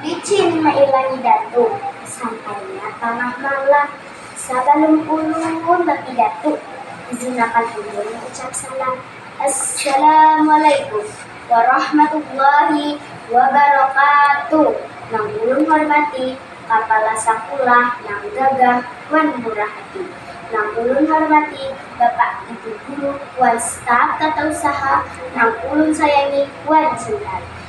Licin mailangi datu, sampainya tangah malam, sabalum ulun laki datu izinakan ulun ucap salam, Assalamualaikum warahmatullahi wabarakatuh, nang ulun hormati kapala sakulah nang gagah wan murah hati, nang ulun hormati bapak ibu guru wan staf tata usaha nang ulun sayangi wan cintai.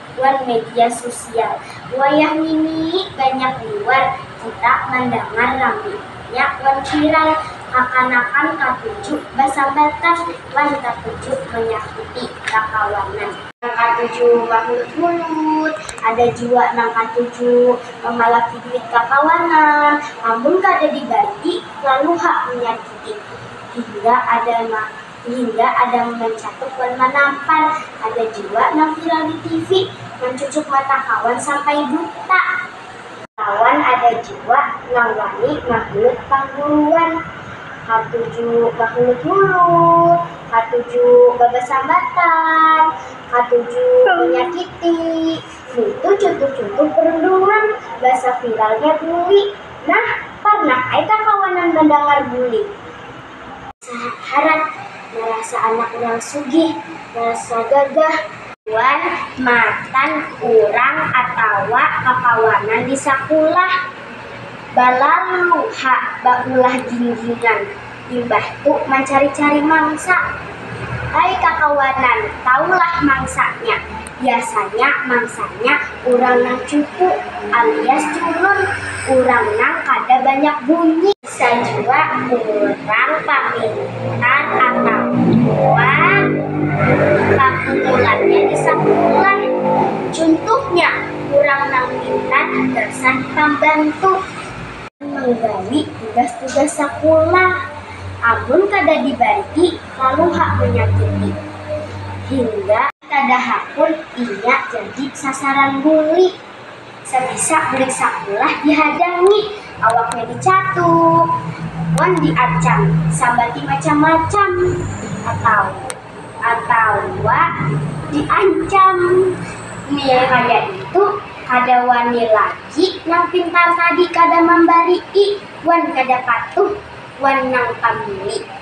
wan media susial. Wayah ngini banyak liwar kita mandangar raminya wan viral, kakanakan katuju basambatan wan katuju manyakiti kakawanan, nang katuju mahulut-hulut, ada jua nang katuju mamalaki duit kakawanan, amun kada dibanti lalu ha manyakiti, hingga ada nang. Sehingga ada mancatup wan manampar. Ada jua nang viral di TV, mancucuk mata kawan sampai buta. Lawan ada jua nang wani mahiut pangguruan. Katuju bahulut-hulut, katuju babasambatan, katuju manyakiti. Nitu cuntuh-cuntuh perundungan basa viralnya buli. Nah, parnah ai kah kawanan mandangar buli? Saharat, marasa anak nang sugih, marasa gagah. Wan, matan urang atawa kakawanan di sakulah. Balalu ha baulah ginggingan, imbah tu mancari-cari mangsa. Ai kakawanan, tahulah mangsanya, biasanya mangsanya urang nang cupu alias culun, urang nang kada banyak bunyi. Sajua urang pamintar atawa pakukulannya di sakulah. Cuntuhnya, urang nang pintar gasan pambantu. Manggawi tugas-tugas sakulah. Amun kada dibanti, lalu ha manyakiti. Hingga. Kada hakun inya jadi sasaran buli. Sabisa bulik sakulah dihadangi, awaknya dicatuk, wan diancam sabati macam-macam atawa diancam nilai kaya itu kada wani lagi nang pintar tadi kada mambari'i wan kada patuh wan nang pambuli.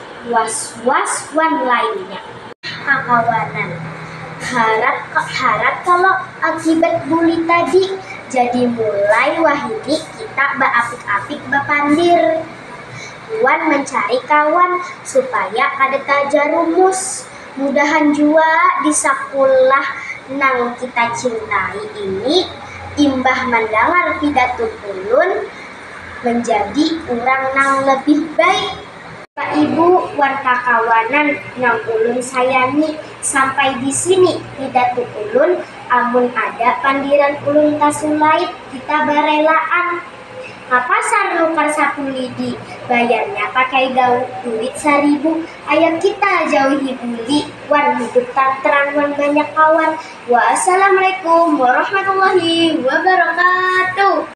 was-was wan lainnya. Kakawanan, harap-harap kalo akibat buli tadi, jadi mulai wahini kita baapik-apik bapandir wan mancari kawan supaya kada tajarumus. Mudahan jua di sakulah nang kita cintai ini imbah mandangar pidato ulun manjadi urang nang labih baik. Bapak Ibu wan kakawanan nang ulun sayangi, sampai di sini di datu ulun, amun ada pandiran ulun tasulait kita barelaan ka pasar nukar sapu lidi, bayarnya pakai duit saribu, ayo kita jauhi buli wan hidup tantram wan banyak kawan. Waassalammualaikum warahmatullahi wabarakatuh.